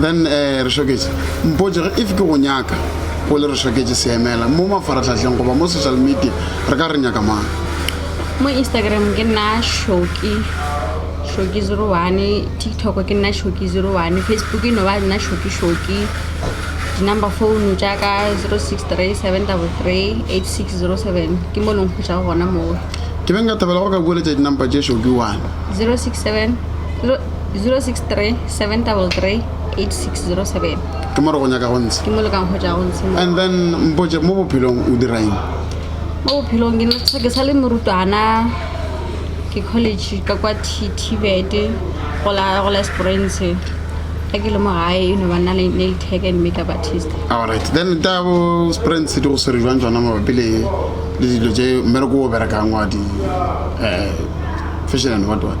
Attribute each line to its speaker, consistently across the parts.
Speaker 1: then um re šoketše mpotse ge if ke go nyaka go le re šoketše seemela mo mafaratlhatlheng goba mo social media re ka re nyaka mang mo
Speaker 2: instagram ke nna shoki shoki zero one tiktok ke nna shoki zero one facebook e no ba nna shoki shoki di-number phone tša ka zero six three seven double three eight six zero seven ke mo leng kgotsa go gona moo ke beng ka thabela
Speaker 1: go ka bueletša dinampa tše šoki one zero six seven zero six three
Speaker 2: 7338607 ke mo re go
Speaker 1: nyaka go ntsha ke mo le ka nkgotša go ntshe
Speaker 2: and then mpotse
Speaker 1: mo bophelong o diraeng mo
Speaker 2: bophelong ke ntsha ke sa le morutwana ke college ka kwa tibet go la go la springs ka ke le mo gae e no ba nna le nail tag and makeup artist alright then ta
Speaker 1: bo springs di go swere jwang tsona mabapi le le dilo tse mmereko o berekang wa di um fashion and what what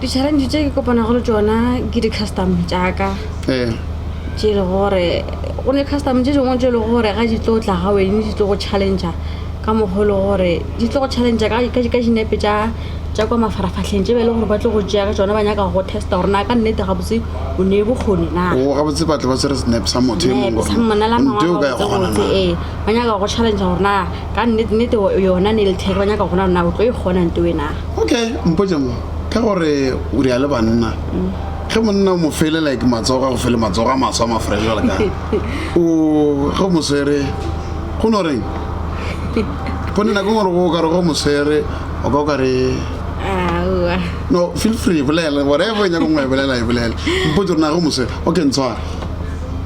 Speaker 2: Di-challenge tse ke kopanago le tsona ke di-custom jaaka ee tše e le gore go ne custom tše dingwe tše e le gore ga di tlo tla ga wene di tlo go challengea ka mokgwa e le gore di tlo go challengea ka dinepe tša tša kwa mafaratlhatlheng tše ba e leng gore ba tlo go tšea ka tsona ba nyaka go testa gore na ka nnete gabotse o ne bokgoni na o gabotse batho ba tsere
Speaker 1: senepe sa motho ee
Speaker 2: ba nyaka go challengea gore na ka nnete nnete yona ne e le theke ba nyaka gona na o tlo e kgona nte o enaga okay mpotse
Speaker 1: mo ka gore o di a le banna ge monna o mo fele like matsogo a go fele matsogo a maswa mafrele jale ka o ge o moswere go no reng pone nako gore go kare go moswere o ka o kare no feel free bolela whatever e nyako ngwe e bolela e bolela mpotse gore na go moswere okay ntshware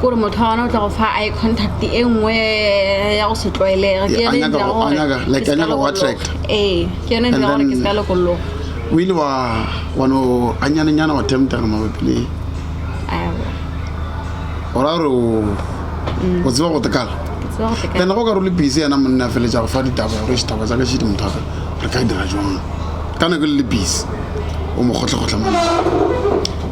Speaker 2: kore motho wa gona o tla go fa i contact e nngwe ya go se tlwaelega ke yone ntlha gore ke se ka lokologa ee ke
Speaker 1: yone ntlha gore ke se
Speaker 2: ka lokologa o ile wa
Speaker 1: wa no ganyanenyana wa temptega mabapi le o ra gore o tseba go tekala ene go ka re o le busy yena monna feletsa go fa ditaba gore ditaba tsa ka šedi motho aka re ka dira jwang ka nako le le busy o mo kgotlhakgotlha monna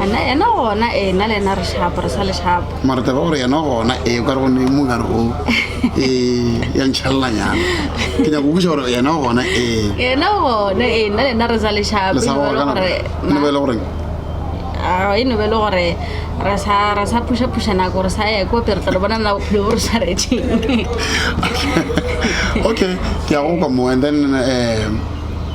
Speaker 1: Ana,
Speaker 2: yena gona ee nna le yena re shapo re sa le shapo mara taba gore yena gona
Speaker 1: ee ka re gone mo ka re go ee ya ntšhalelanyana ke nyako busa gore yena gona ee yena
Speaker 2: gona ee nna le yena re sa le shapo le sa gore kana gore
Speaker 1: ne ba ile gore
Speaker 2: e no be le gore re sa re sa pusha pusha na gore sa ya ko pere tla bona na o phele gore sa re tšeng
Speaker 1: okay ke ya go kwa mo and then um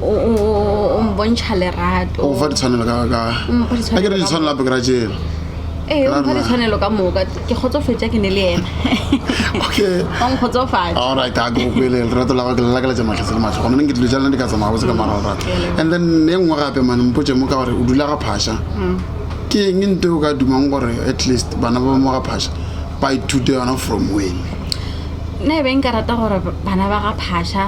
Speaker 2: o o- o mbontšha lerato o fa ditshwanelo ka ka O mpha
Speaker 1: ditshwanelo a ke re ka ditshwanelo gape ke ra tsela ee o mpha Rarla.
Speaker 2: ditshwanelo ka moka ke kgotsofetša ke ne le ena okay
Speaker 1: o nkgotsofatša
Speaker 2: alright a ke go kwele
Speaker 1: lerato la gago ke lelakaletša matlhase le matlho gona ne ke dilo jalo ne di ka tsamaya botse ka mara lerato and then e nngwe gape mane mpotse mo ka gore o dula ga phaša ke eng nto e o ka dumang gore at least bana ba mo ga phaša ba ithute yona from wene nna
Speaker 2: e be nka rata gore bana ba ga phaša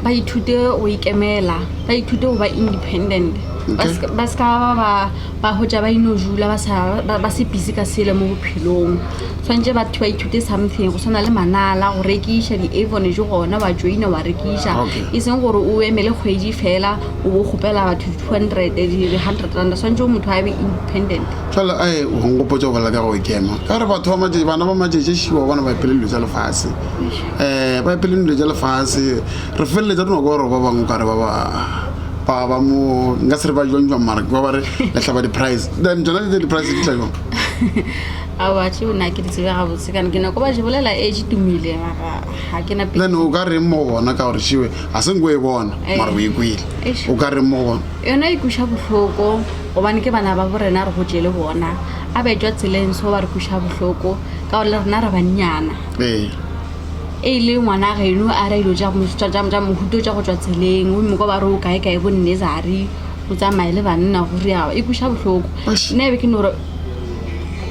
Speaker 2: ba ithute go ikemela ba ithute go ba independent ba se ka- ba se ka ba ba- ba hotša ba ino jula ba sa- ba ba se busy ka selo mo bophelong tshwanetse batho ba ithute something go tshwana le manala go rekiša di-avon je gona wa joina wa rekiša Okay. e seng gore o emele kgwedi fela o bo kgopela batho di-two hundred di-hundred rand tshwanetse o motho a be independent fela a e
Speaker 1: go nkopotsa go bolela ka go ikema ka gore batho ba matšatši bana ba matšatši šiwa bona ba phele dilo tsa lefase um ba epeleng dilo tša lefase re feleletsa re no kwa gore ba bangwe kare ba ba ba ba mo nka se re ba jwang jwang mara ba ba re lehlaba di-price then tsona tse di-price di tla jwang
Speaker 2: abatho o na ke di tsebe gabotse kana ke nako ba je bolela e je tumile mara ga ke na pele then o ka reng mo go
Speaker 1: bona ka gore šiwe ga se nko e bona Eh. mara o e kwele Eish. o ka reng mo go bona yona e kuša
Speaker 2: bohloko gobane ke bana ba bo rena re gotše le bona a betšwa tseleng so ba re kuša bohloko ka gore le rena re bannyana ee e le ngwana geno a re dilo tša mohuto tša go tšwa tseleng o moko ba re o kae kae bo nursery o tsamaye le banna go realo e kweša bohloko nna ebe ke no gore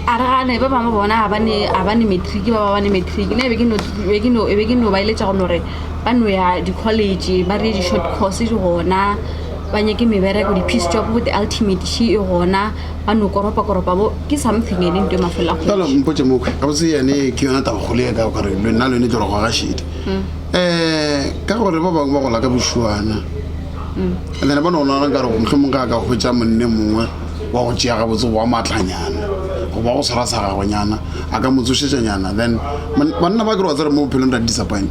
Speaker 2: a re gane ba bangwe bona ga ba ne matric ba ba bane matric nna ebe ke no ba eletša go no gore ba no ya di-college ba reye di-short course gona ba nyake mebereko di-piece job bo di-ultimate e gona. a no koropakoropa bo ke something ene nto e mafela kgwedi fela
Speaker 1: mpotse mo kgwe ga botse yane ke yona taba gole ka gore lo nna lone tlo re go ga shedi um ka gore ba bangwe ba gola ka bošuana and then ba ne go nagana ka gore motlho mongwe ga a ka hwetsa monne mongwe wa go tšea ga botse wa maatlanyana goba go tshwara sa gagonyana a ka motsošetsanyana then banna ba kere wa tsere mo bophelong ra disappoint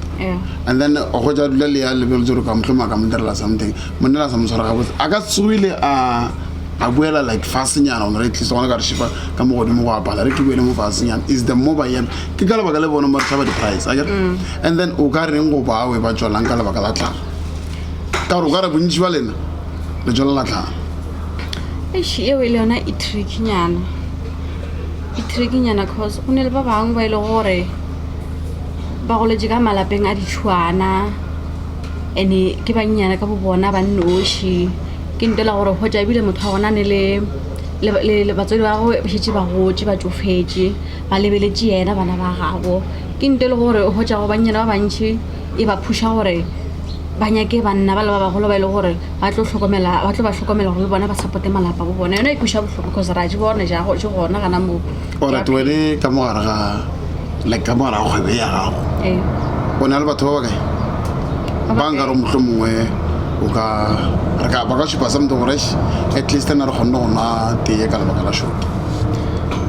Speaker 1: and then o hwetsa dula le ya lebeletse gore ka motlho mongwe a ka mo direla something monna la sa mo tshwara ga botse a ka tsogile a a buela like fasenyana ona re tlisa gona ka re šifa ka mo godimo go apala re ke buele mo fasenyana is the mobile yam ke ka lebaka le bone ba tlhaba di-price a kere mm. and then o ka reng go bawe ba tswalang ka lebaka la tlhaga ka gore o ka re bontši ba lena le tswala la tlhaga ese
Speaker 2: eo e le yona e trickinyana e trickinyana cause go ne le ba bangwe ba e le gore ba goletse ka malapeng a ditšhwana and-e ke bannyana ka bo bona ba nnoši Ke nnete la gore hwetša ebile motho wa gona ne le le batswadi ba gagwe ba šetše ba gotše ba tšofetše ba lebeletše yena bana ba gabo ke nnete le gore o hwetša go bannyana ba bantšhi e ba phuša gore ba nyake banna ba le ba bagolo ba e le gore ba tlo hlokomela ba tlo ba hlokomela gore le bona ba supporte malapa bo bona yona e kwša bohloko cause ra je bone ja gotše gona gana moo. ore ke wele
Speaker 1: ka mogare ga like ka mogare ga kgwebe ya gago ee o ne le batho ba bakae ba nka re motlho mongwe o ka re ka ba ka šupa something gore at least na re kgonne go nwa tee ka lebaka la shoki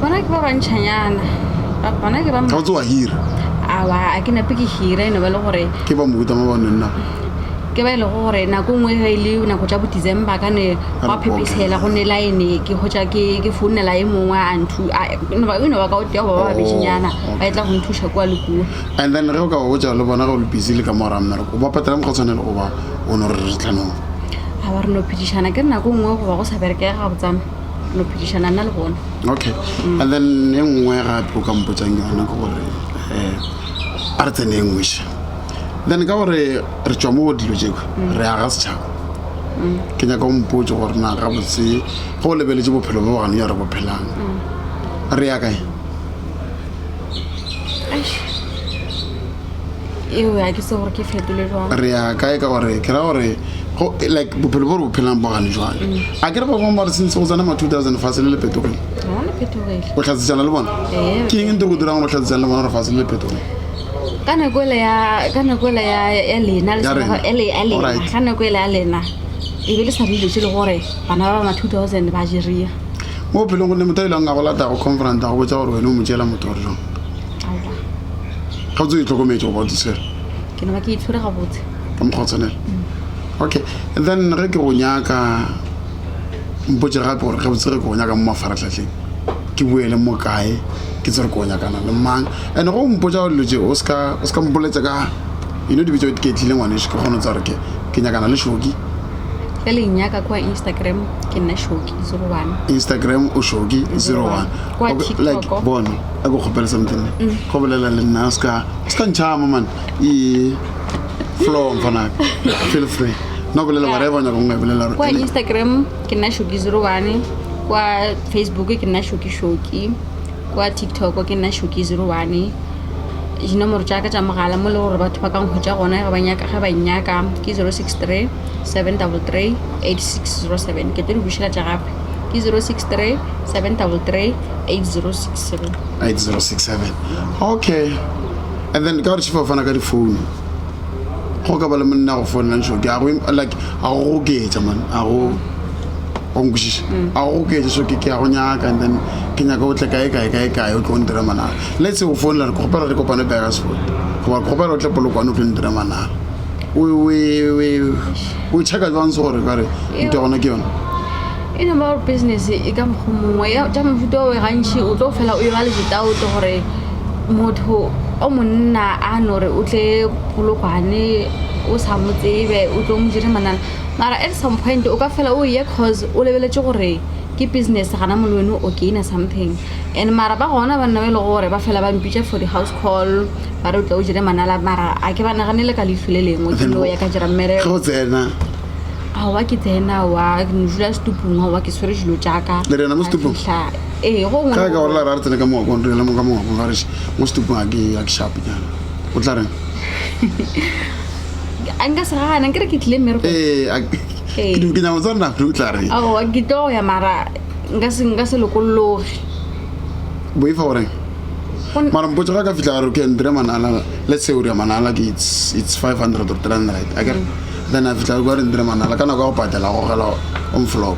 Speaker 1: bona ke
Speaker 2: ba bantšhanyana bona ke ba ga o tse wa hira
Speaker 1: awa a
Speaker 2: ke nape ke hira e no ba le gore ke ba mohuta mo ba nonna
Speaker 1: ke ba e lego
Speaker 2: gore nako nngwe ge e le nako tša bo december ka ne gwa phephetshela go ne line ke hotša ke ke founela e mongwe a nthu eno ba ka otea goba ba babešinyana ba e tla go nthuša kua le kua and then ge o ka
Speaker 1: botsa le bona go le busy le ka mora mmereko o ba patela mokgwa tshwanele go ba o no re re tlanong a ba re no
Speaker 2: phedišana ke re nako nngwe goba go sa berekega ga botsana no phedišana nna le bona okay and
Speaker 1: then e nngwe gape o ka mpotsang yona ke gore um a re tsene e nngwešha then ka gore re tšwa mo dilo tšeo re aga setšhaba ke nyaka o mpotse gore na ga botse go lebeletse bophelo bo gane ya re bophelang re ya kae
Speaker 2: re ya kae ka gore
Speaker 1: ke ra gore like bophelo bo re bophelang bo gane jwale mm. a ke re go mo mare sentse go tsena ma two thousand fa se le le petogile
Speaker 2: o tlhatsetsana le bona
Speaker 1: ke eng nte go dirang go tlhatsetsana le bona gore fa se le le petogile ka nako
Speaker 2: ele ya ka nako ele ya ya lena le Ya rena. sebaka- ele ya lena Alright. ka nako ele ya lena e be le sa dilo tse le gore bana ba bana 2000 ba jeria mo bophelong gonne
Speaker 1: motho a ileng a go lata go confront a go botsa gore wena o mo tšeela motho gore jang aowa ga o tse o itlhokometse goba o tsesere ke naba ke itshwere
Speaker 2: gabotse ka mokgwa o tshwanela
Speaker 1: okay then ge ke go nyaka mpotse gape gore gabotse ge ke go nyaka mo mafaratlhatlheng ke bue le mo kae ke tsere ko nyakana le mang and go mpotsa gore lotse o ska o ska mpoletsa ka you know dibitso ke tlile ngwane ke kgone tsa gore ke ke nyakana le shoki le le
Speaker 2: nyaka kwa instagram ke nna shoki
Speaker 1: zero one instagram o shoki zero one kwa like
Speaker 2: bona a go kgopela
Speaker 1: something mm. go bolela le nna o ska o ska ntšhama man e flow mfanaka feel free no bolela whatever nyaka nngwe bolela kwa instagram
Speaker 2: ke nna shoki zero one kwa facebook ke nna shoki shoki kwa tiktok ke nna shoki zero one dinomoro tša ka tša mogala mo le gore batho ba ka nkgwetša gona ge ba nyaka ge ba nnyaka ke zero six three seven double three eight six zero seven ke tlo di bušeletša gape ke zero six three seven double three eight
Speaker 1: zero six seven 8067 okay and then ka gore chief o fana ka difounu go ka ba le monna go founela ntsho ke a go like a go oketsa man a go go nkwešiša a go oketsa so ke ke a go nyaka and then ke nyaka o tle kae kae kae kae o tlo ntira manana let's say go founela re kgopela re kopane pega sport goba ke kgopela o tle polokwane o tlo ntira manana o check-a jwang se gore kare nto gona ke yone e no ba
Speaker 2: gore business e ka mokgwa mongwe ya tša mofuta o gantšhi o tlo fela o e ba le ditaoto gore motho o monna a no re o tle polokwane o sa mo tsebe o tlo mo jere manana mara at some point o ka fela o ye cause o lebeletse gore ke business gana mole wene o gaina something and mara ba gona banna ba e le gore ba fela ba mpitša for di-house call ba re o tle o jere manala mara a ke ba naganele ka leifu le lengwe ke no ya ka jera mmereko ge o tsena
Speaker 1: aowa
Speaker 2: ke tsena wa dula setupong aowa ke tshwere dilo jaaka le rena mo setupong? Ka fihla
Speaker 1: ee go
Speaker 2: gongwe- ka ka gore la ra re tsene ka mongwakong
Speaker 1: re le mo ka mongwakong ga re še mo setupong a ke a ke shape nyana o tla reng
Speaker 2: a nka se gana ke re ke tlile mmereko ee a- Ee.
Speaker 1: ke ke nyako tsa nna o tla reng aowa ke tlo ya mara
Speaker 2: nka se nka se lokologe
Speaker 1: boifa goreng Go n- mara mpotso ga ka fitlha gare can dire manala let's say o ria manala ke it's it's 500 or 300 a kere then a fitlha ko re ndire manala ka nako ya go patela go gela on flop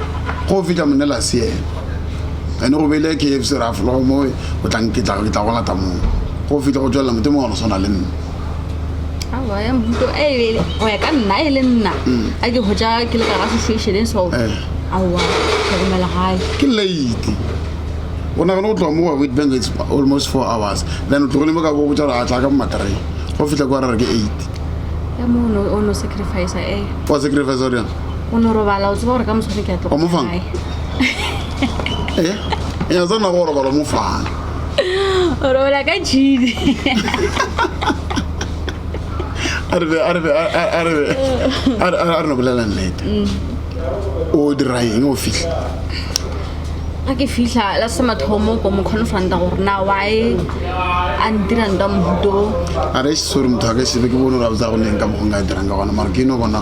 Speaker 1: go fetša mone la seela ene go beile k f c ra fologo mo o tlang ke tla go lata moo go fetša go tswelela mote mongwe go swana le nna ya mmuto
Speaker 2: e e bele go ya ka nna e le nna mm. a ke go ja ke le ka ga situation e so eh. aowa tlhokomela gae ke late
Speaker 1: o nagane go tloga mo wa wit bank it's almost four hours then o tlogole mo ka bo botsa a tla ka momatree go fitlha kwa re re ke eight ya mo o no
Speaker 2: sacrifice e o sacrifice
Speaker 1: o reng o no robala o tseba
Speaker 2: gore ka moswane ke a tloga Omofang? gae. e
Speaker 1: e ya tsena go robala mo fana
Speaker 2: o robala ka tšhidi a re be a re be a- a- a
Speaker 1: re be a re- a re- a re no bolela nnete o dira eng o fitlha
Speaker 2: ga ke fitlha la se mathomo ko mo confronta gore na wae a ntirang ka mohuto a re sore
Speaker 1: motho a ka sebe ke bone gore a botsa go leng ka mokgong ka e dirang ka gona mara ke no bona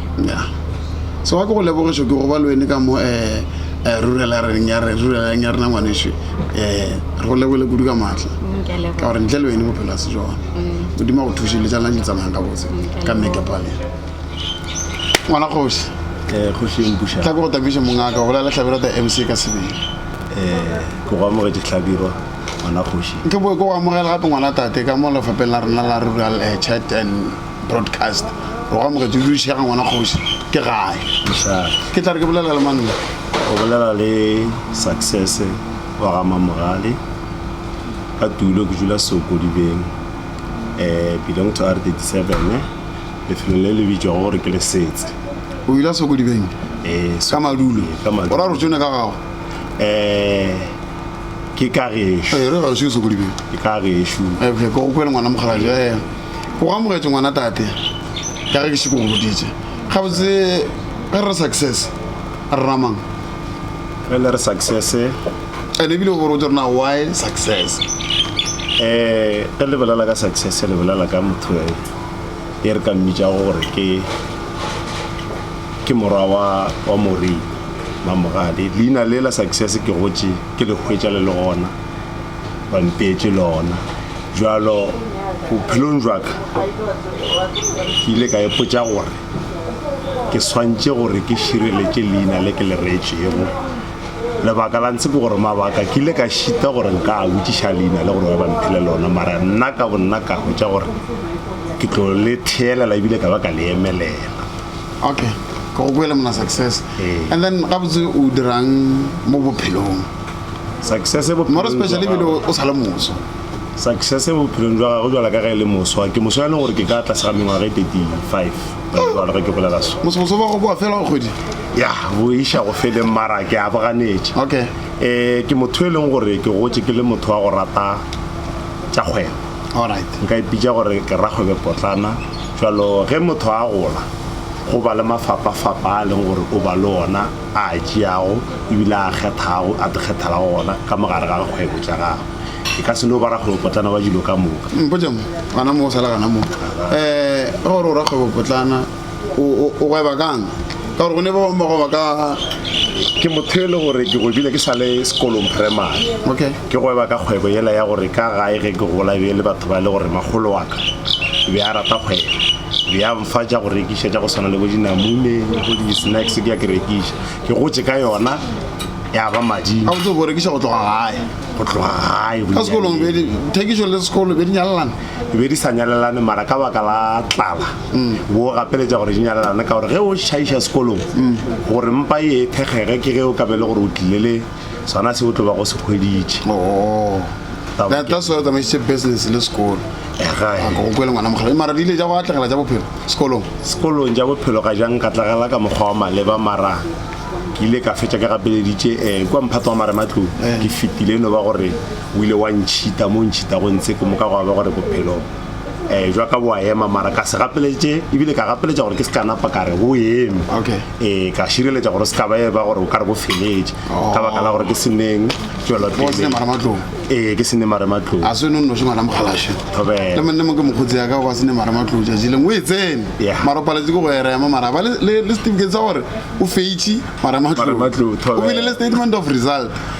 Speaker 2: ya
Speaker 1: so wa ke go lebogišo ke go ba le wene ka mo um rurelareng ya re rurelareng ya rena ngwaneso um re go lebole kudu ka maatla ka gore ntle le wene bophelo a se jone modimo go thuše le tsa lena di tsamayang ka botse ka mmekepale ngwana kgoši
Speaker 3: tla ko go tabiše mongaka go
Speaker 1: bolela tlhabelo ta m c ka sebele
Speaker 3: ke go amogetše tlhabiro ngwana kgoši nke boe ke go amogela
Speaker 1: gape ngwana tate ka mo lefapeng la rena la rural chat and broadcast o ga mogetso o dudišega ngwana kgoši ke gae ke tla re ke bolela le manna o bolela le
Speaker 3: success wa ga mamogale ka tulo ke dula sokodibeng um eh, belong to r 37 lefelo le le bitšwago gore ke le setse o ile
Speaker 1: sokodibeng eh, ka madulo o ra rotsone ka gago um
Speaker 3: ke ka gešo ke
Speaker 1: ka gešo
Speaker 3: ke go kwele ngwana
Speaker 1: mokgalaja o amogetše ngwana tate ka ge ke šeko go boditše gabotse ge re success re ramang re le
Speaker 3: re success and ebile
Speaker 1: o botse rena why success um
Speaker 3: ge le bolela ka success le bolela ka motho e re ka mmitša gore ke ke morwa wa wa morena mamogale leina le la success ke gotše Ke le hwetša le le gona, ba mpeetše lona. Bjalo bophelong bjaka ke ile ka ipotša gore ke swantše gore ke šireletše leina le ke le reetšego. Lebaka la ntshe ke gore mabaka ke ile ka šita gore nka a botšiša leina le gore ba mphele lona, mara nna ka bonna ka hwetša gore ke tlo le theelela ebile ka ba ka le emelela. okay
Speaker 1: ke go kwele mona success eh. and then gabotse o dirang mo bophelong success
Speaker 3: more especially
Speaker 1: bile o sa le moso success mo
Speaker 3: bophelong jwa gagwe jwala ka ge e le moswa ke moso yaneng gore ke ka tlase ga mengwaga e thirty five jalo ge ke bolela so mosomoso ba go boa fela go
Speaker 1: kgwedi ya boiša
Speaker 3: go feleng mara ke a boganetše okay um
Speaker 1: ke motho
Speaker 3: e leng gore ke gotse ke le motho wa go rata tša kgwebo nka
Speaker 1: ipitša gore ke
Speaker 3: rakgwebe potlana jalo ge motho a gola go ba le mafapafapa a leng gore o ba le ona a a tšeago ebile a kgethago a tikgethela go ona ka mogare ga kgwebo tša gago e ka se no ba rakgwebo potlana wa dilo ka moka mpotšang gana
Speaker 1: mo o sala gana mo um gore o rakgwebo potlana o gweba kang ka gore go ne ba bangwe ba gweba ka ke motho
Speaker 3: e le gore ke gwebile ke sa le sekolong primary okay ke gweba ka
Speaker 1: kgwebo
Speaker 3: yela ya gore ka gae ge ke gola be le batho ba e le gore magolo wa ka be a rata kgwebo be ya mfa ja go rekiša ja go tshwana le bo dinamune go di-snacks ke ya ke rekiša ke gotse ka yona ya ba mading a botse go rekiša go tloga
Speaker 1: gae go tloga gae ka sekolong thekišo le sekolo be di nyalelana di be di sa nyalelane
Speaker 3: mara ka baka la tlala bo gapeletša gore di nyalelane ka gore ge o šaiša sekolong gore mpa e thekgege ke ge o kabe le gore o tlile le sona se o tlo ba go se hweditše oh.
Speaker 1: that, that's why o tsamaisitše business le sekolo go kwele ngwana mogala mara di ile ja go atlegela ja bophelo sekolong sekolong
Speaker 3: ja bophelo ga jang ka tlagela ka mokgwa wa maleba mara ke ile ka fetša ke gapeleditše um eh, kwa mphato wa marematlong eh. ke fetile no ba gore o ile wa ntšhita mo ntšhitago ntse ke moka gwa ba gore bophelo um jwa ka boa ema mara ka se gapeletše ebile ka gapeletša gore ke se ka napa ka re go eme okay um ka šireletša gore se ka ba e ba gore o ka re bo feletše oh. ka baka la gore ke seneng tswelopele ee ke sene marematlou a se nonnoše ngwana
Speaker 1: mogalaše le mone mo ke mokgotsi yaka ba sene marematlou tšatši leng o e tsene mara o paletse ke go erema mara ba le certificate sa gore o feitše marematlou o bile le statement of result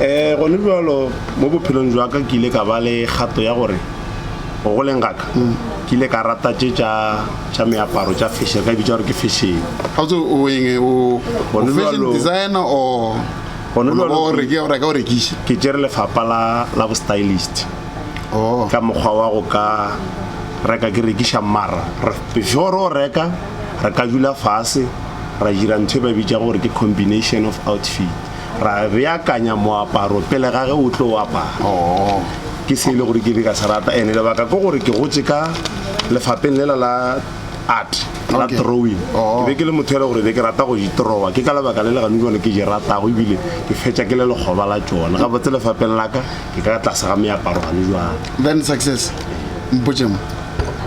Speaker 1: um gone
Speaker 3: bjalo mo bophelong jwa ka ke ile ka ba le kgato ya gore go goleng gaka ke ile ka rata tše tša meaparo tša fashion ka e bitsa gore ke
Speaker 1: fashion ke tsere lefapa la
Speaker 3: bo stylist oh. ka mokgwa wa go ka reka ke rekiša mara before o reka re ka dula fase ra dira ntho e ba bitsa gore ke combination of outfit ra beakanya moaparo pele ga ge o tlo o apara oh. ke se e le gore ke be ka se rata ene lebaka ke gore ke gotse ka lefapeng lela la art la drawing oh. ke be ke le motho ele gore be ke rata go itrowa ke ka lebaka le le gane jone ke je ratago ebile ke fetša ke le lekgoba la tsone ga botse lefapeng la ka ke ka tlase ga meaparo gane jwale then success
Speaker 1: mpotšemo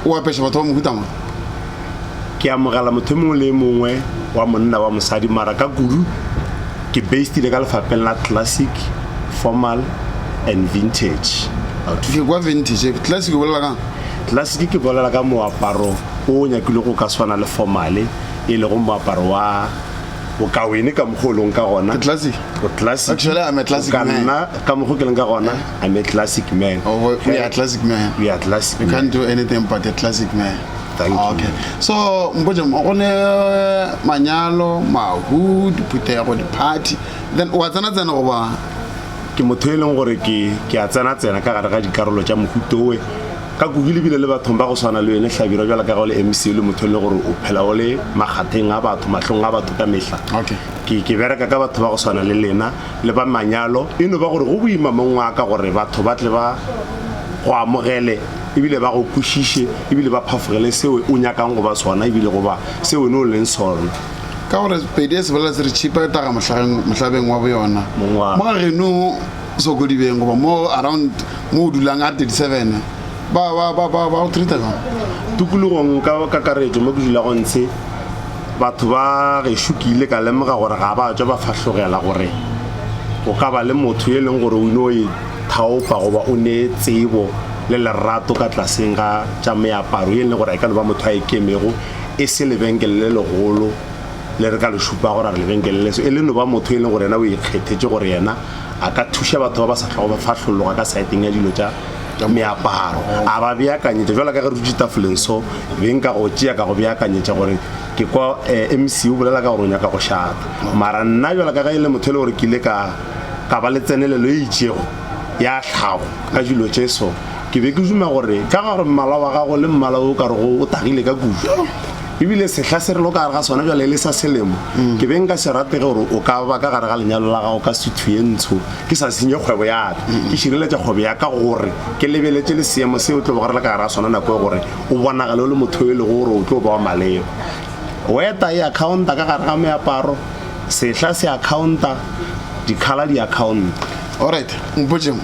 Speaker 1: o apeša batho ba mohutama
Speaker 3: ke amogela motho mongwe le mongwe wa monna wa mosadi mara ka kudu ke based le ka lefapheng la classic formal and vintage ke kwa
Speaker 1: vintage classic bolela ka classic ke
Speaker 3: bolela ka moaparo o nyakile go ka swana le formale e lego moaparo wa bokawene ka mokgwa o leng ka gona classic classic
Speaker 1: actually i'm a classic man nna ka mokgwa ke leng ka
Speaker 3: gona i'm a classic man oh we are classic
Speaker 1: man we are classic you can't
Speaker 3: do anything but
Speaker 1: a classic man Ah, okay
Speaker 3: so
Speaker 1: mpotse mo go ne eh, manyalo mahu diphuthego di-party then wa tsena tsena goba ke motho
Speaker 3: e leng gore ke ke a tsena tsena ka gare ga dikarolo tša mohutowe ka kuku lebile le bathong ba go swana le yone hlabira jwale ka ga o le mc le motho e le gore o phela o le makgatheng a batho matlhong a batho ka mehla Okay. ke ke bereka ka batho ba go swana le lena le ba manyalo e no ba gore go boima mong wa ka gore batho ba tle ba go amogele ebile ba go kwešiše ebile ba phafogele se o nyakang go ba sona ebile go ba se wene o leng sona ka gore
Speaker 1: pedi e sebolela se re tšhipa e taga mohlabeng wa boyona mo ga geno sokodibeng goba mo around mo o dulang a 37 ba ba ba ba ba o treata jang tukulogong
Speaker 3: ka kakaretso mo ke dulago ntshe batho ba gešo ke ile ka lemoga gore ga ba tswa ba fahlogela gore go ka ba le motho e leng gore o ino e thaofa goba o nee tsebo le lerato ka tlaseng ga tša meaparo ye e leng gore a e ka no ba motho a e kemego e se lebenkele le legolo le re ka le šupago ra re lebenkele leso e le no ba motho e leng gore yena o ikgethetše gore yena a ka thuša batho ba ba sa tlhogo ba fahlologa ka saeteng ya dilo tša meaparo a ba beakanyetša jalo ka ge re dutše tafoleng so beng ka go tšea ka go beakanyetša gore ke kwa eh, mc o bolela ka gore o nyaka go šata mara nna jalo ka ge e le motho e le gore ke ile ka ka ba le tsenelelo e itšego ya tlhago ka dilo tše so, ke be ke duma gore ka gore mmala wa gago le mmala o ka rego o tagile ka kudu ebile sehla se re lo ka gare ga sona jale e le sa selemo mm. ke be nka se ratege gore o ka ba ka gare ga lenyalo la gago ka suthu ye ntsho ke sa senye kgwebo ya ka mm. ke šireletša kgwebo ya ka gore ke lebeletše le seemo se o tlo bogare le ka gare ga sona nako e gore o bonagale o le motho e lego gore o tlo ba wa maleba weta e accounta ka gare ga meaparo Sehla se a khaonta, dikhala di a khaonta. Alright,
Speaker 1: mpotšeng,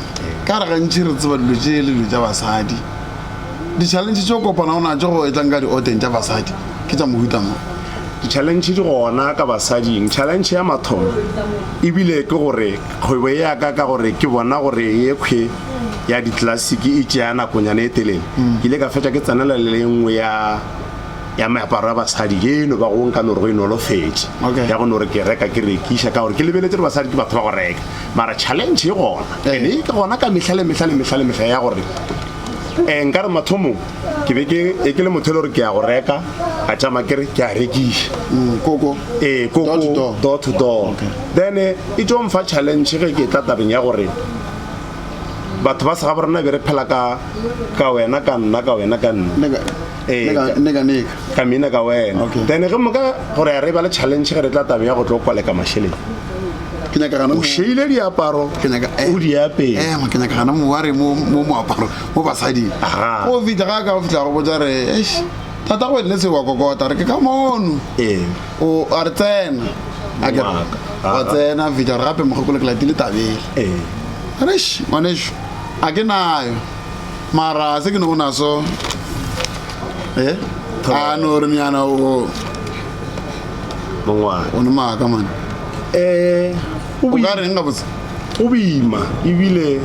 Speaker 1: ka re gantši re tseba dilo tše le dilo tša basadi, di-challenge tše o kopanago natšo go etlang ka dioteng tša basadi ke tša mohuta mang? Di-challenge
Speaker 3: di gona ka basading. Challenge ya mathomo e bile ke gore kgwebo ya ka, ka gore ke bona gore yekhwi ya di-classic e tšea nakonyana e telele, ke ile ka fetša ke tsenela le ye nngwe ya ya meaparo ya basadi ke eno ba gong ka no re go e nolofetše okay. ya go no re ke reka ke rekiša ka gore ke lebeletse gore basadi ke batho ba go reka mara challenge e gona eh. and e ke gona ka mehla le mehla le mehla le mehla ya gore um eh, nka re mathomong ke be ke e ke le motho e le gore ke ya go reka a tšama kere ke a rekiša mm, koko
Speaker 1: ee koko
Speaker 3: door to door then eh, e tšo mfa challenge ge ke tla tabeng ya gore batho ba sega borena be re phela ka ka wena ka nna ka wena ka nna Ee, Neka- ka-
Speaker 1: neka neka ka mina ka
Speaker 3: wena Okay. then ge moka
Speaker 1: gore
Speaker 3: ya re ba le challenge ge re tla tabeng ya go tlo kwaleka mašeleng ke nyaka
Speaker 1: gana o šeile diaparo
Speaker 3: Ke nyaka- eh. o di
Speaker 1: apere
Speaker 3: ema ke nyaka gana moware
Speaker 1: mo mo moaparo mo basading Aha. o fitlha ga
Speaker 3: ka o fitlha
Speaker 1: go botsa re eish tata go ne se wa kokota re ke ka mono ee o a re tsena a ke Wa ka. wa Aha. tsena
Speaker 3: a fitlha
Speaker 1: re gape mogokolo ke latile tabele ee reish ngwaneso a ke nayo mara se ke ne go naso e eh? a no re nyana o
Speaker 3: mongwana o ne maaka
Speaker 1: mane eh, um o ka reng ga botse go boima
Speaker 3: ebile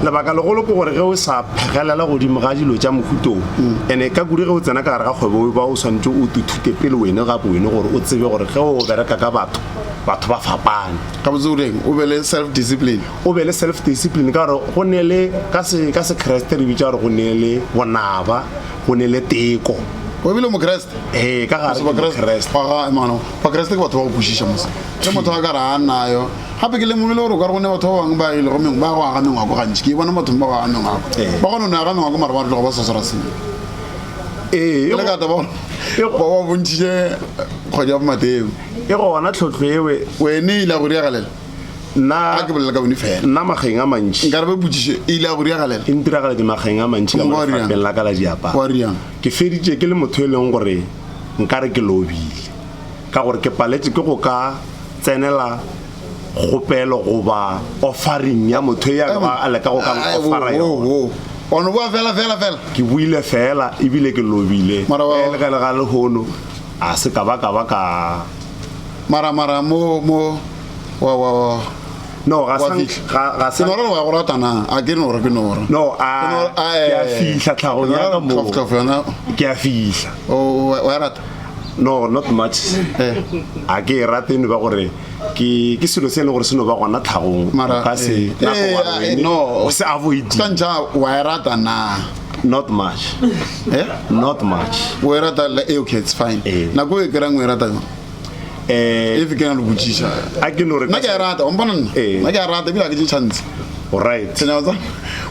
Speaker 3: lebaka legolo ke gore ge o sa phegelela godimo ga dilo tša mofutong and-e mm. ka kudu ge o tsena ka gare ga kgwebo ba o tshwanetse o tuthute pele wene gape wene gore o tsebe gore ge o bereka ka batho batho ba fapane ka botse o reng
Speaker 1: o be le self discipline o be le self
Speaker 3: discipline ka gore go ne le ka se ka sekreste re bitsa gore go ne le bonaba go ne le teko o bile mokreste
Speaker 1: ee ka gare
Speaker 3: mokreste
Speaker 1: bakreste ke batho ba go kwešiša mose ke motho a ka re a nayo gape ke lemogile gore o ka re go ne batho ba bangwe ba ile go mengwe ba go aga mengwako gantši ke bona bathong ba go aga mengwako ba kgone no aga mengwako mare ba re tlogo ba sa swara sengwe ee le ka taba ba wa bontšhitše kgwedi ya bomateo e gona tlhotlho
Speaker 3: ewe wene ile go diagalela
Speaker 1: nna a ke bolela ka bone fela nna mageng a mantši
Speaker 3: nka re ba botsiše e ile a
Speaker 1: go diragalela e ntiragaletse mageng
Speaker 3: a mantši ka mofapheng la ka la
Speaker 1: diaparo
Speaker 3: ke feditše
Speaker 1: ke le
Speaker 3: motho e leng gore nka re ke lobile ka gore ke paletse ke go ka tsenela kgopelo goba offering ya motho ya ka ba a leka go ka offera yona ono boa fela
Speaker 1: fela fela ke buile
Speaker 3: fela ebile ke lobile e le ga le ga
Speaker 1: lehono
Speaker 3: a se ka ba ka ba ka mara
Speaker 1: mara mo mo wa wa wa no
Speaker 3: ga sa ga
Speaker 1: ga sa
Speaker 3: nora wa
Speaker 1: go rata na
Speaker 3: a
Speaker 1: ke nora ke nora no a ke
Speaker 3: a fihla tlhago ya ka mo ka fana ke a
Speaker 1: fihla
Speaker 3: o wa rata
Speaker 1: no not
Speaker 3: much eh a ke rate ne ba gore ke ke selo se le gore seno ba gona tlhagong mara ka se
Speaker 1: eh,
Speaker 3: na go wa eh, no
Speaker 1: o
Speaker 3: se
Speaker 1: avoid ka
Speaker 3: ntsha wa
Speaker 1: rata na not much
Speaker 3: eh not much wa rata eh okay
Speaker 1: it's fine eh. na go e kra ngwe rata eh, e ke na le botšiša a ke no re nna ke a
Speaker 3: e rata wa mpona nna
Speaker 1: eh. nna ke a rata ebile a ke tše tšhantse orit senyatsa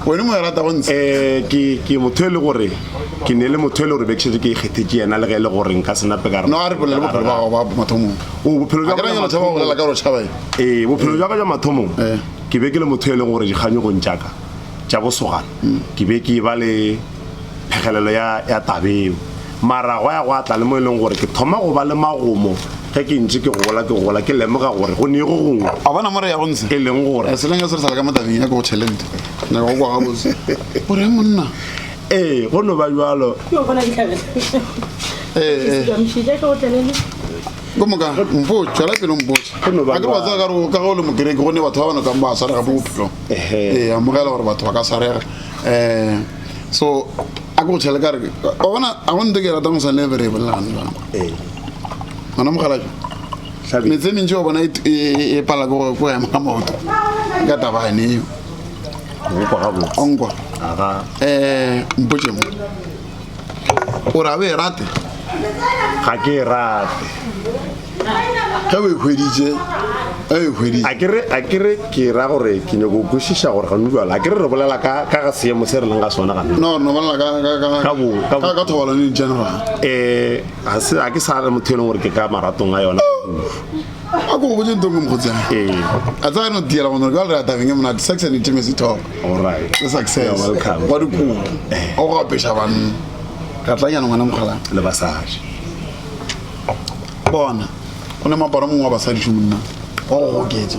Speaker 1: wene mo e rata go ntshe eh, ke motho
Speaker 3: e le gore ke ne le motho e le gore bekšete ke ikgethe ke yena le ge e le gore nka senape ka no a re bolela bophelo ba gago
Speaker 1: ba mathomong o bophelo jwa ka
Speaker 3: jwa bolela
Speaker 1: ka rochaba ee bophelo jwa ka jwa
Speaker 3: mathomong ke be ke le motho e leng gore dikganyogong tšaka tša bosogana ke be ke ba le phegelelo ya, ya tabeo mara gwa ya gwa tla le mo e leng gore ke thoma go ba le magomo ge ke ntše ke gola ke gola ke lemoga gore go ne go gongwe a bona more ya go ntsha
Speaker 1: e leng gore eh, seleng se
Speaker 3: re sa ka mo tabeng
Speaker 1: ya go talent na go kwa gabotse o re monna ee go no
Speaker 3: ba jalo ee
Speaker 1: ko moka mpo tswela pele mpotsa ga ke wa tsaya ka go le mokereke gonne batho ba ba nakang ba sarega mo bophelong ee amogela gore batho ba ka sarega um so a ke go tšhele ka re bona a go nte ke ratang go sa ne bere e bolelagane jang gona mogalajo metse mentši wa bona e, e, e, e pala ko go ema ga maoto ka tabane eo onkwa um mpotšemo o ra o e rate ga
Speaker 3: ke e rate
Speaker 1: ge o e hweditše ge o e hweditše
Speaker 3: a kere a kere ke ra gore ke nyako o kwešiša gore gane jalo a kere re bolela ka ka ga seemo se re leng ga sona gane no no bolela ka ka
Speaker 1: ka Ka bo- ka bo- ka ka thobalano in general um ga
Speaker 3: se ga ke sa le motho e leng gore ke ka maratong a yona a
Speaker 1: ko go botse ntong ke mokgotsana a tsaya no tiela gona jale re atabeng e monate sex and intimacy talk le success wa dikopo
Speaker 3: eh.
Speaker 1: o go apeša banna ka tlanyana ngwana mokgala le basadi bona o ne moaparo mongwe wa basadi šomonna wa go goketsa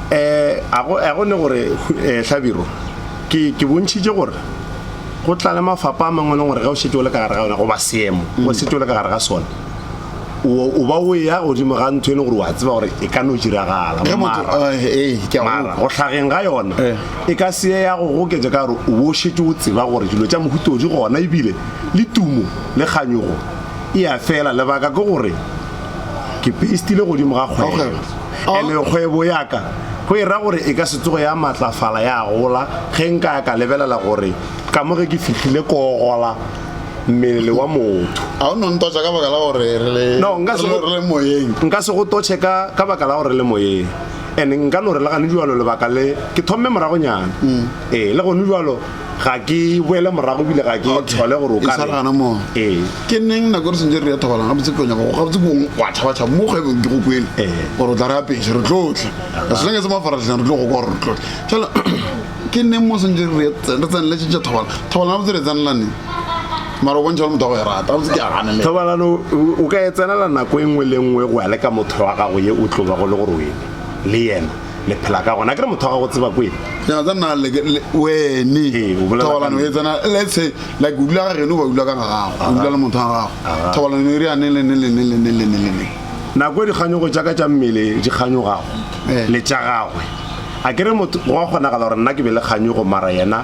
Speaker 3: um go ne gore um hlabiro ke ke bontšhitše gore go tla le mafapa a mangwe e leng gore ge o šetše o le ka gare ga yona goba seemo mm. o šetše o le ka gare ga sona o ba o ya godimo ga ntho e leng gore wa tseba gore e ka no diragala mara eh, eh, go tlhageng ga yona eh. e ka seye ya go goketsa ka gore o bo šetše o tseba gore dilo tša mohutodi gona ebile le tumo le kganyogo e ya fela lebaka ke gore ke pestile godimo ga kgwebo And-e kgwebo ya ka go e ra gore e ka se tsoge ya matlafala ya gola ge nka ya ka lebelela gore ka mo ge ke fihlile ko gola mmele wa motho. A o no ntotša ka
Speaker 1: baka la gore re le, No, nka se re le, go, re le moyeng? nka se go totše ka,
Speaker 3: ka baka la gore re le moyeng. And nka no re le gane bjalo lebaka le ke thomme moragonyana. Ee, le gone bjalo ga ke boele morago bile ga ke thole gore o ka re gana mo ee
Speaker 1: ke neng na gore sentse re ya thobalang ga botse konya go ga botse go wa thaba thaba mo kgwebong ke go kwele gore o tla re apeshe re tlotle re se lenge se mafaratleng re tlo go gore re tlotle fela ke neng mo sentse re re tsenele tšentša thobalang thobalang ga botse re tsenela neng mara o bontšha le motho wa go e rata botse ke a ganele thobalano o
Speaker 3: ka e tsenela nako e nngwe le nngwe go ya le ka motho wa gago ye o tlo ba go le gore o ene le yena le phela ka gona ke re motho wa gago tseba kwele
Speaker 1: wene thobalano e tsena let's say like o dula ga geno ba dula ka ga gago o dula le motho wa gago thobalano e re yane lene lene lene lene lene nako e
Speaker 3: dikganyogo tša ka tša mmele di kganyogago le tša gagwe a ke re motho wa kgonagala gore nna ke be le kganyogo mara yena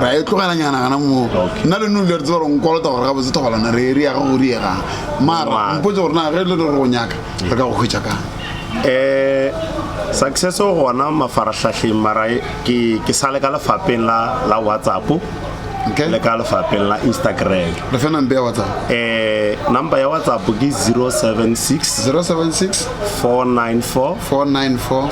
Speaker 1: ra e tlogela nyana gana moo nna le nole re tseba gore nkolota gore ga botse thobalana re re yaga go riega mara mpotse gore na ge le re go nyaka re ka go hwetša kang um
Speaker 3: success gona mafarahlahleng mara ke sa le ka lefapeng la whatsapp le ka lefapeng la instagram re fe number ya whatsapp
Speaker 1: um number ya
Speaker 3: whatsapp ke 076 076 494 494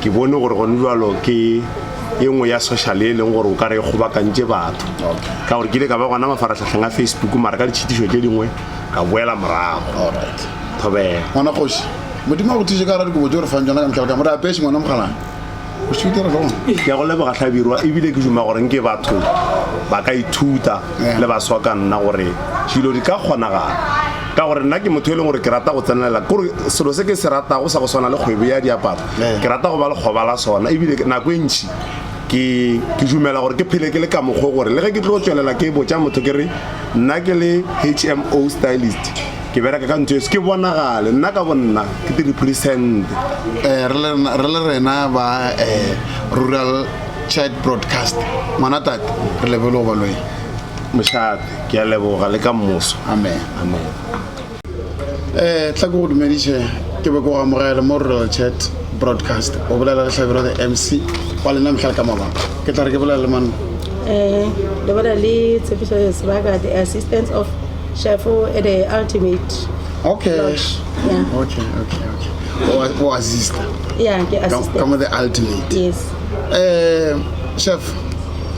Speaker 3: ke bone gore gone jalo ke e nngwe ya social e leng gore o ka re e kgobakantše batho ka gore ke ile ka ba gona mafaratlhatlheng a facebook mara ka ditšhitišo tše dingwe ka boela morago thobela ngwana kgoši
Speaker 1: modimo a go thise ka gara dikobo tse o re fang tsona ka metlhale ka mo re apesi ngwana mogalane ke ya go leboga tlhabirwa
Speaker 3: ebile ke duma gore nke batho ba ka ithuta le ba swa ka nna gore dilo di ka kgonagala ka gore nna ke motho e leng gore ke rata go tsenelela kore selo se ke se ratago sa go swana le kgwebo ya diaparo ke rata go ba lekgoba la sona ebile nako e ntšhi ke ke dumela gore ke phele ke le ka mokgwa gore le ge ke tlo tswelela ke botša motho ke re nna ke le hmo stylist ke bereka ka ntho ese ke bonagale nna ka bonna ke tiri present eh,
Speaker 1: re le rena ba eh, rural child broadcast ngwana tate re lebele go balweng mošate
Speaker 3: ke a leboga le ka mmuso amen amen
Speaker 1: eh tla go dumediše ke be go amogele mo rural chat broadcast o bolela le hlabiro the mc wa lena mehla ka mabaka ke tla re ke bolela le man eh
Speaker 4: le bona le tshepiso ya sebaka the assistance of shefo at the ultimate okay Lodge. yeah okay
Speaker 1: okay okay o o assista yeah ke assistant
Speaker 4: ka mo the ultimate
Speaker 1: yes
Speaker 4: eh
Speaker 1: chef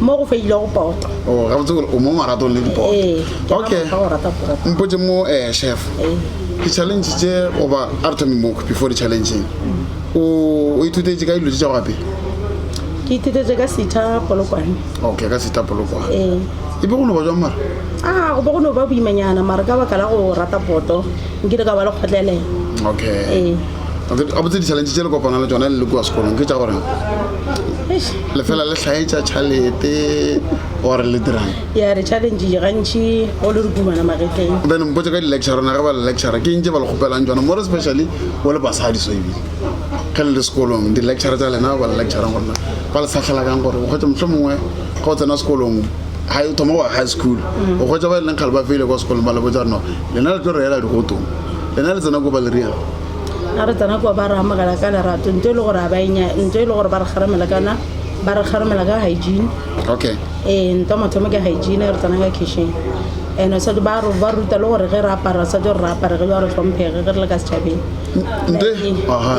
Speaker 1: mo go feilego
Speaker 4: poto o oh, gabotse gore o mo
Speaker 1: maratong le dipoto ee, okay mpotse mo um chef ee. di-challenge tse goba a re thome mo before di-challengeng o ithutetse ka dilo tse tsa gape ke
Speaker 4: ithutetse ka setha polokwane okay ka setha
Speaker 1: polokwane ee. e be go no ba jwang mara a ah, go be go no
Speaker 4: ba boimanyana mara ka baka la go rata poto nkile ka ba
Speaker 1: le
Speaker 4: kgotlelela okay
Speaker 1: gabotse di-challenge tse le kopana le tsone le le kua sekolong ke tsa goreng le fela le hlaetša tšhalete gore le dirang ya re challenge
Speaker 4: gantši o le re kumana magetleng then mpotse ka di-lecture
Speaker 1: rona ge ba le lecture ke ntse ba le kgopelang tsona more especially o le basadi so ebile ge le le sekolong di-lecture tsa lena ba le lectureng gorena ba le sahlela kang gore o kgwetse motlho mongwe ga o tsena sekolong ga o thoma wa high school o kgwetsa ba e leng kgale ba feile kwa sekolong ba le botsa rena lena le tlo reela digotong lena le tsena ko ba le reela A re tsena
Speaker 4: kwa ba re amogela ka lerato nto e le gore a ba enya nto e le gore ba re kgaramela kana ba re kgaramela ka hygiene okay
Speaker 1: ee nto mathomo
Speaker 4: ke hygiene re tsena ka kitchen ene sa ba re ba ruta le gore ge re apara sa gore re apare ge ba re tlhomphege ge re le ka setšhabeng nto aha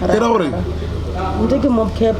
Speaker 1: ke ra gore nto ke
Speaker 4: mob cap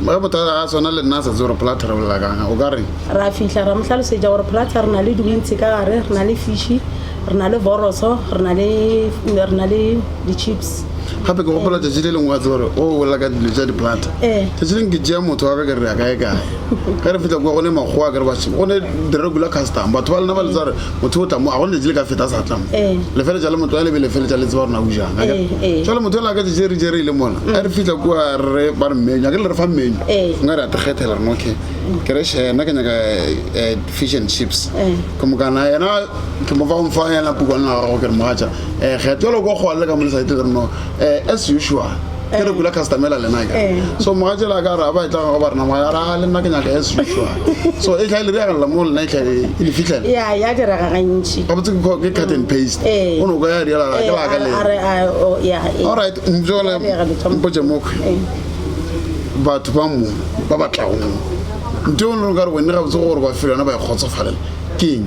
Speaker 4: ba bothata ga sona
Speaker 1: le nna sa tse gore pla tharabolela kang o ka re ra fihla ra mo
Speaker 4: hlalosetša gore plata re na le diwintse ka gare re na le fishi re na le boroso re na le di-chips gape ke gopola
Speaker 1: tšatši le lengwe wa tsebore o oh, bolela ka dilo tša diplata eh. tšatši leng ke tšea motho wa ka ke re ya kae kae ka re fitlha kua go ne makgowa ke re ba go ne di-regular custom batho ba lena ba le tsare motho o tla mo a gone letsi le ka feta a sa tla mo eh. lefeletša le motho a lebe lefeletša le tseba rona o jana eh, eh. jale motho ela ka jejere jere e le mona mm. a re fitlha kua re ba re mmenyu a ke le re fa mmenyu nka re a tekgethela rena okay mm. ke re share nna ke nyaka fish and chips ke mokana yena ke mo fa o mfa yena pukwana la gago ke re mogatša um kgetho le ko kgwale ka mo le sa ete le reno as usual ke re kula customela lena ya eh. so moga tsela ka ra ba e tlaga go ba rena moga ra ah, le nna ke nyaka as usual so e tla le ya la mo lena e tla e le fitlela ya ya di ra ga
Speaker 4: gantsi ga botse ke cut and
Speaker 1: paste eh. o no go ya di la ke ba ka le oh, all right njo le mpotse mo eh. batho ba mo ba ba tlago nto o ne ka re wena ga botse gore ba fela na ba e kgotsofalela keng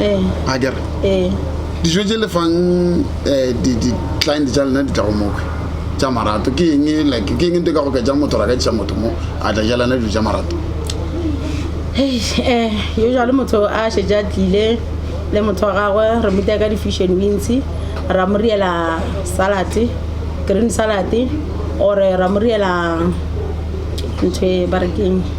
Speaker 1: eh. a kere eh. dijo tse le fang um di-client tsa lena di tla go mokwe tsa marato ke eng like ke eng nte ka go ka ja motho ra ka tisa motho mo a tla jalana dijo tsa marato
Speaker 4: eh, usually motho a šetse a tlile le motho wa gagwe re motya ka di-fusion wins ra mo riela salad green salad ore ra mo riela ntho e ba rekeng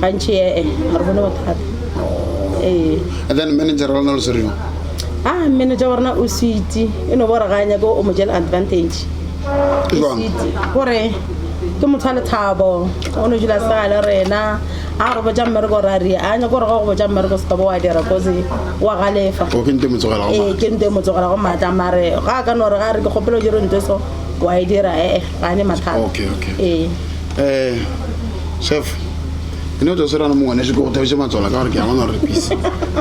Speaker 4: gantši ee ga re bone bothata ee
Speaker 1: And then manager wa lona lo se reng? a manager
Speaker 4: wa rena o switi e no bore ga a nyake o mo jela advantage Ke jwang? Switi, gore ke motho wa lethabo o no dula sega le rena a re botsa mmereko ra ria a nyake gore ga go botsa mmereko se ka bo wa dira kose wa galefa O ke nto e mo tsogela go ee
Speaker 1: maatla. ke nto e mo tsogela go maatla
Speaker 4: mare ga a ka no re ga a re ke kgopelo jero nto so wa e dira ee ga ne mathata Okay, okay. ee
Speaker 1: um chef ene o tsa se rana mongwaneso ke go thabise matswala ka gore ke a bona gore pise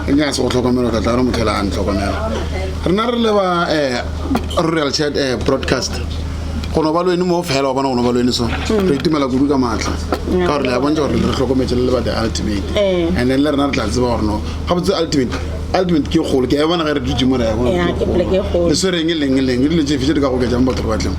Speaker 1: e nyaka se go tlhokomela tla tla re motlhela a ntlhokomela rena re leba um royal chat um broadcast go no ba lwene mo fela wa bona go no ba lwene so re itumela kudu ka maatla ka gore le ya bontsa gore le re tlhokometse le le ba the ultimate and then le rena re tla tseba gore no ga botse ultimate ultimate ke kgolo ke a e bona ge re dutse mo re ya le swereng e leng e leng e dilo tse fiše di ka go oketsang batho ba tleng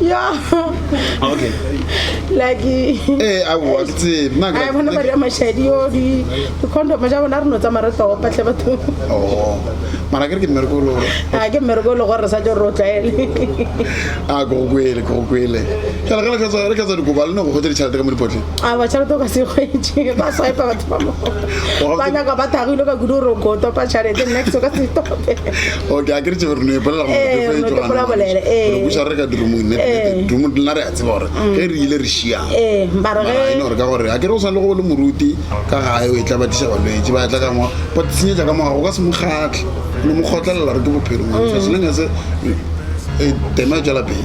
Speaker 4: ya
Speaker 1: okay
Speaker 4: like eh a
Speaker 1: wa tse na ga bona ba re mashadi
Speaker 4: yo di di condom ja bona re no tsamaya re tlopa tle batho oh
Speaker 1: mara ke re ke mergolo a ke mergolo
Speaker 4: gore sa jo ro tlaele a
Speaker 1: go kwele go kwele ke re ke tswa re ke tswa di gobalo no go gotse ditšhelete ka mo dipotle a ba tšhelete ka se
Speaker 4: gweitše ba sa epa batho ba mo ba nya ka ba thagile ka kudu ro go topa tšhelete next ka se tope okay a ke re tšebe
Speaker 1: re no epolela gore Eh, re no tefo e tloga bolele,
Speaker 4: eh. nagore buša re ka dirumong
Speaker 1: nete Eh. nete dumo nna re a tseba gore ge re ile re šiang ee ba re mara e no
Speaker 4: ge gore ka gore a
Speaker 1: ke re o swane le go le moruti ka gae o e tla batiša balwetse ba tla ka ngwa ba tsenyetsa ka morago ka se mo kgatlhe no mo kgotlelela re ke bophelo ngwanesa seleng se e tema e tswela pele